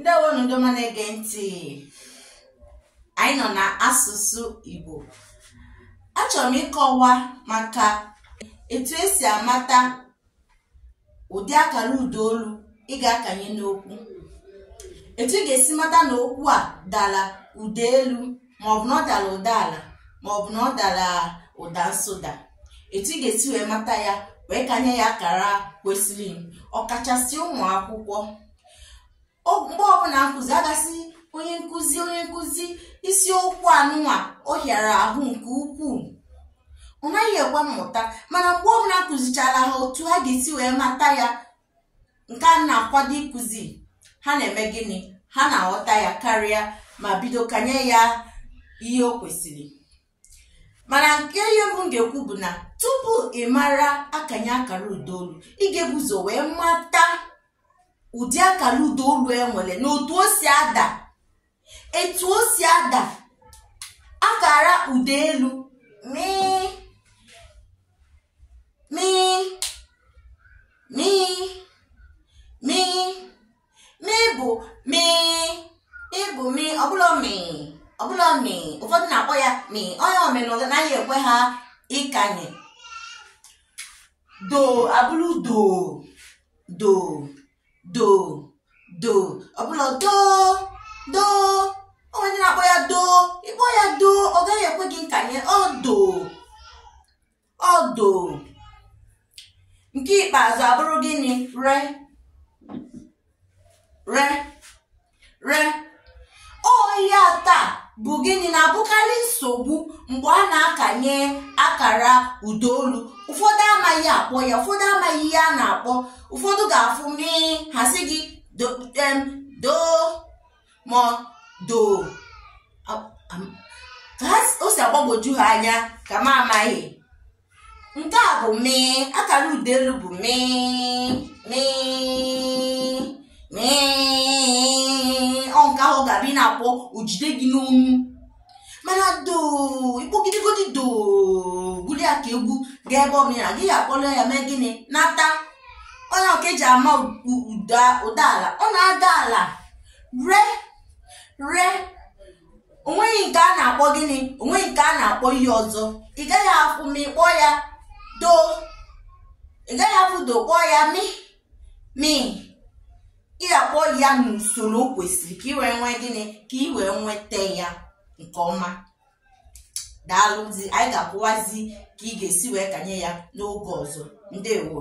ndewonụ ndị ọma na-ege ntị anyị nọ na asụsụ Igbo achọrọ m ịkọwa maka etu esi amata ụdị akara ụda olu ị ga-akanye n'okwu etu ị ga-esi mata na okwu a dara ụda elu maọbụ na ọ dara ụda ala maọbụ na ọ dara ụda nsụda etu ị ga-esi wee mata ya wee kanye ya akara kwesịrị ọkachasị ụmụ akwụkwọ mgbe ọbụla m kụzi a ga-asị onye nkụzi onye nkụzi isiokwu anụnwa ọ hịara ahụ nke ukwuu ọ naghị ekwe mmụta mana mgbe ọbụla m kụzichara ha otu ha ga-esi wee mata ya nke a m na-akwado ịkụzi ha na-eme gịnị ha na-aghọta ya karịa ma bido kanye ya ihe o kwesịrị mana nke ihe mbụ m ga-ekwu bụ na tupu ị mara akanye akara ụdaolu ị ga-ebu ụzọ wee mata ụdị akara ụdaolu e nwere na otu o si ada etu o si ada akara ụda elu mii mii mii mii mi bụ mi mi bụ mi ọ bụrọ mi ọ bụrọ mi ụfọdụ na-akpọ ya mi ọ ya mere na ọ naghị ekwe ha ịkanye do abụrụ do do do do ọ bụrọ do do o nwe ndị na-akpọ ya do ị kpọọ ya do ọ gaghị ekwe gị nkanye ọ do ọ do nke ikpeazụ abụrụ gịnị re re re ọ ihe atọ a bụ gịnị na-abụkarị nsogbu mgbe a na-akanye akara ụdaolu ụfọdụ amaghị akpọ ya ụfọdụ amaghị ihe a na-akpọ ụfọdụ ga-afụ mi ha sị gị do ma doo ka o si agbagwoju ha anya ka m amaghị nke a bụ mi akara ụda elu bụ mi mi mi ọ nke ahụ ga-abịa na-akpọ o jide gị n'ọnụ mana doo ị kpọgidegodi doo gụrụ ya ka egwu gaa ebe ọbụla gị ya akpọrọ ya mee gịnị nata ọ ya ka eji ama u- ụda ụda ala ọ na-ada ala re re onweghị nke a na-akpọ gịnị onweghị nke a na-akpọ ihe ọzọ ị gaghị afụ mi kpọọ ya doo ị gaghị afụ do kpọọ ya mi mi ị ga-akpọ ya n'usoro o kwesịrị ka ị wee nwee gịnị ka ị wee nweta ya nke ọma daalụzi anyị ga-akọwazi ka ị ga-esi wee kanye ya n'oge ọzọ ndewo